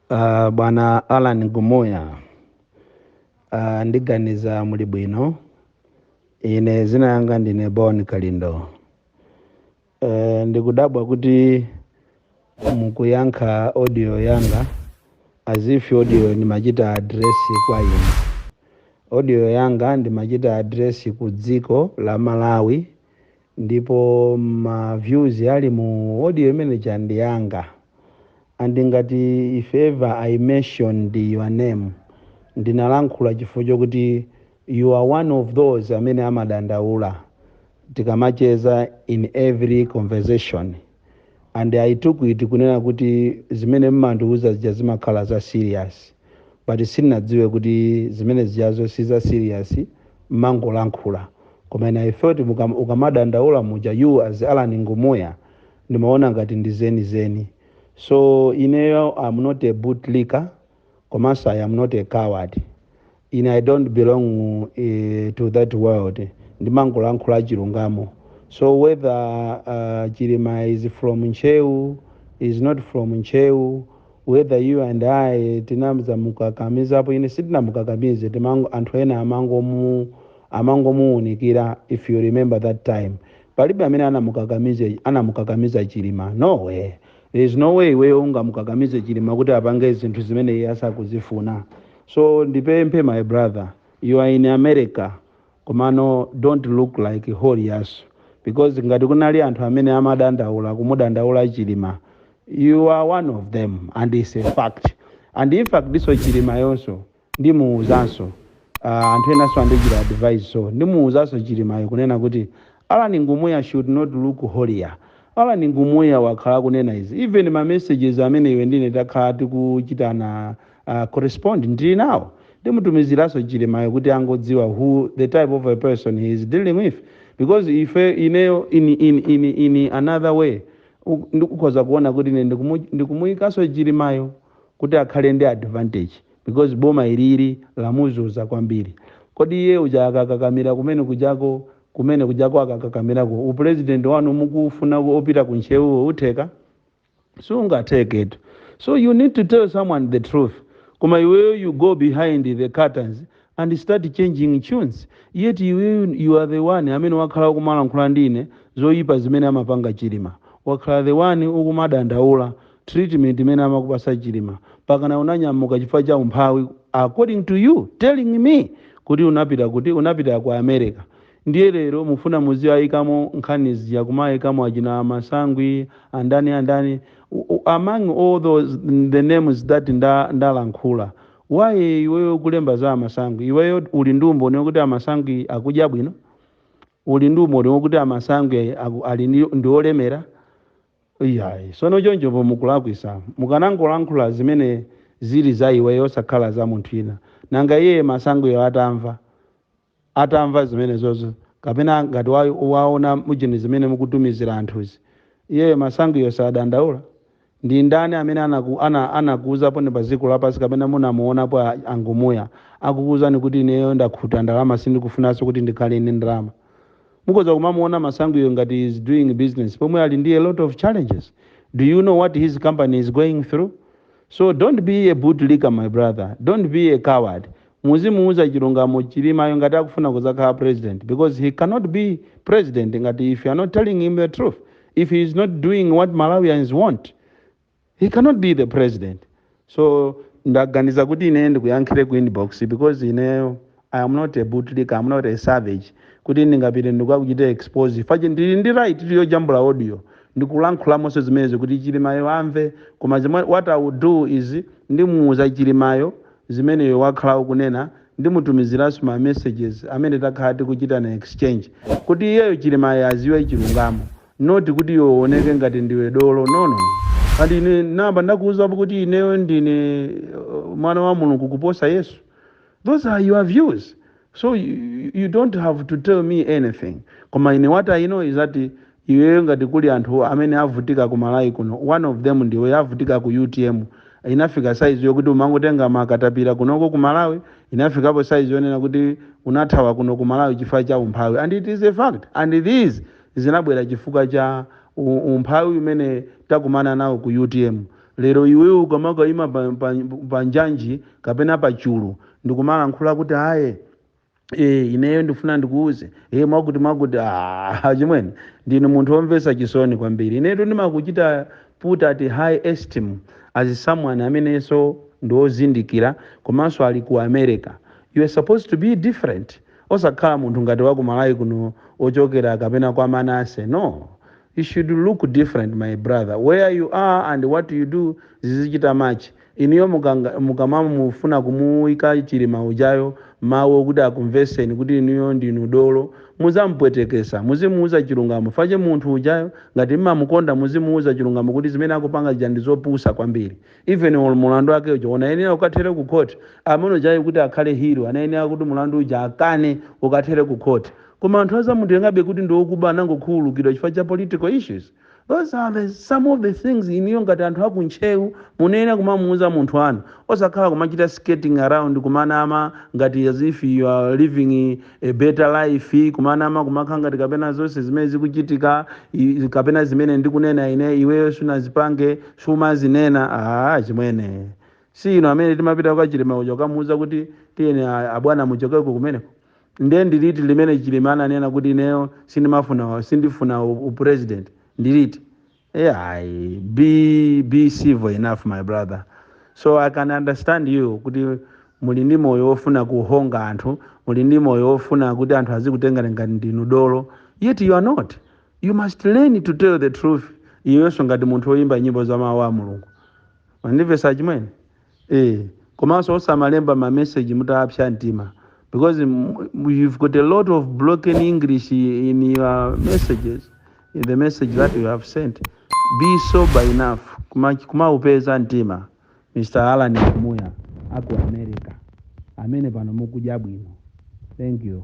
Uh, bwana Alan Ngumuya uh, ndiganiza muli bwino ine zina yanga ndine Bon Kalindo uh, ndikudabwa kuti mukuyankha audio yanga as if audio ndimachita address kwa inu audio yanga ndimachita address ku dziko la Malawi Ndipo ma views ali mu audio imene ija ndi anga and ngati if ever I mentioned your name ndinalankhula chifukwa chakuti you are one of those amene amadandaula tikamacheza in every conversation. and i took it kunena kuti zimene mmandiuza zija zimakhala za serious but sinadziwe kuti zimene zijazo si za serious mmangolankhula koma ine i thought mukam- ukamadandaula muja you as alan ngumuya ndimaona ngati ndi zeni zeni so ineyo am not a bootlicker komanso i am not a coward ine i don't belong eh, to that world ndimangolankhula chilungamo so whether uh, chilima is from Ntcheu is not from Ntcheu whether you and i tinadzamukakamizapo ine sitinamukakamize timango anthu ena amangomu amangomuwunikira if you remember that time palibe amene anamukakamiza anamukakamiza chilima no way there is no way iweyo ungamukakamize chilima kuti apange zinthu zimene iye asakuzifuna so ndipemphe my brother you are in america komano don't look like holier because ngati kunali anthu amene amadandaula kumudandaula chilima you are one of them and it's a fact and in fact ndiponso chilimayonso Ndimuuzanso anthu enanso andichita advise so ndimuuzanso Chilimayo kunena kuti Allan Ngumuya should not look holier. Allan Ngumuya wakhala akunena izi even ma messages amene iwe ndine takhala tikuchitana correspond ndili nawo. Ndimutumiziranso Chilimayo kuti angodziwa who the type of a person he is dealing with because ife ineyo in in in in another way ndikukhoza kuona kuti ine ndikumuyikanso Chilimayo. kuti akhale ndi advantage because boma ilili lamuzuza kwambiri kodi iye uja akakakamira kumene kujako kumene kujako akakakamirako u president wanu mukufuna opita ku Ntcheuwo utheka sungatheketu so you need to tell someone the truth koma iweyo you go behind the curtains and start changing tunes yet iweyo you are the one amene wakhala ukumalankhula ndi ine zoyipa zimene amapanga chilima wakhala the one ukumadandaula treatment imene amakupasa chilima pakana unanyamuka chifukwa cha umphawi according to you telling me kuti unapita kuti unapita ku america ndiye lero mufuna muziayikamo nkhani zija kumaayikamo achina masangwi andani andani U- u- among all those the names that nda, ndalankhula why iweyo kulemba za amasangwi iweyo uli ndi umboni wokuti amasangwi akudya bwino uli ndi umboni wokuti amasangwi aku- ali ndi olemera iyayi sono chonchopo mukulakwisa mukanangolankhula zimene zili za iweyo osakhala za munthu ina nanga iyeyo masangwiyo atamva atamva zimenezozo kapena ngati wa, waona mujeni zimene mukutumizila anthuzi iyeyo masangwiyo sadandaula ndi ndani amene anaku, ana, anakuuzaniponi pa dziko lapansi kapena munamuonapo a- a ngumuya akukuuzani kuti ineyo ndakhuta ndalama sindikufunanso kuti ndikhale ndi ndalama Mukhoza kumamuona Masangwiyo ngati he is doing business pomwe ali ndi a lot of challenges. Do you know what his company is going through? So don't be a boot licker my brother, don't be a coward. Muzimuuza chilungamo Chilimayo ngati akufuna kuzakhala president because he cannot be president ngati if you are not telling him the truth, if he is not doing what Malawians want. he cannot be the president so ndaganiza kuti ine ndikuyankhire ku inbox because ineyo i am not a bootlicker I am not a savage kuti ndingapite ndikukachita expose fache ndili ndi right yojambula audio ndikulankhulamo zonse zimenezo kuti chilimayo amve koma zimwe what i will do is ndimuuza chilimayo zimene iwe wakhala ukunena ndimutumiziranso ma messages amene takhala tikuchitana exchange kuti iyeyo chilimayo aziwe chilungamo not kuti iwe uoneke ngati ndiwe dolo no no no ati ine namba ndakuuzapo kuti ineyo ndine uh, mwana wa mulungu kuposa yesu those are your views so you, you don't have to tell me anything koma ine what i know is that iweyo ngati kuli anthu amene avutika ku malawi kuno one of them ndiwe avutika ku utm inafika saizi yokuti umangotenga makatapira kunoko ku malawi inafikapo saizi yonena kuti unathawa kuno ku malawi chifukwa cha umphawi and it is a fact and these zinabwera chifukwa cha umphawi umene takumana nawo ku utm lero iwewe ukamakaima pa, pa, pa njanji kapena pa chulu ndikumalankhula kuti aye e, ineyo ndifuna ndikuuze e, mwakuti mwakuti ah, chimwene ndinu munthu womvetsa chisoni kwambiri inetu ndimakuchita put at high esteem as someone amenenso ndi wozindikira komanso ali ku america you are supposed to be different osakhala munthu ngati waku malawi kuno ochokera kapena kwa manase no you should look different my brother where you are and what you do zizichita match inuyo mukamamufuna kumuika chilima ujayo mau okuti akumveseni kuti inuyo ndinu dolo muzamupwetekesa muzimuuza chilungamo fache munthu ujayo ngati mmamukonda muzimuuza chilungamo kuti zimene akupanga zija ndizopusa kwambiri Even or mulandu wake uja anayenera ukathere ku court. Amene ujayo kuti akhale hero anayenera kuti mulandu uja akane ukathere ku court. Koma anthu azamutengabe kuti ndi okuba anangokhululukidwa chifukwa cha political issues. Those are some of the things inuyo ngati anthu aku Ntcheu munayenera kumamuuza munthu wanu. Osakhala kumachita skirting around kumanama ngati as if you are living a better life kumanama kumakhala ngati kapena zonse zimene zikuchitika i- kapena zimene ndikunena ine iweyo sunazipange sumazinena aa chimwene si inu amene timapita kwa chilima uja kukamuuza kuti tiyeni a- abwana muchokeko kumeneko nde ndiliti limene chilima ananena kuti ineyo sindimafuna sindifuna u- upresident ndiliti Yeah, be be civil enough my brother. So I can understand you kuti muli ndi moyo wofuna kuhonga anthu, muli ndi moyo wofuna kuti anthu azikutengani ngati ndinu dolo. Yet you are not. You must learn to tell the truth. Iweyonso ngati munthu woyimba nyimbo za mawu a Mulungu. Mwandimvesa chimwene? eh komanso osamalemba ma message mutapsa mtima because m- m- you've got a lot of broken english in your messages in the message that you have sent be sober enough Kuma- kumaupeza mtima mr alan kumoya aku america amene pano mukudya bwino thank you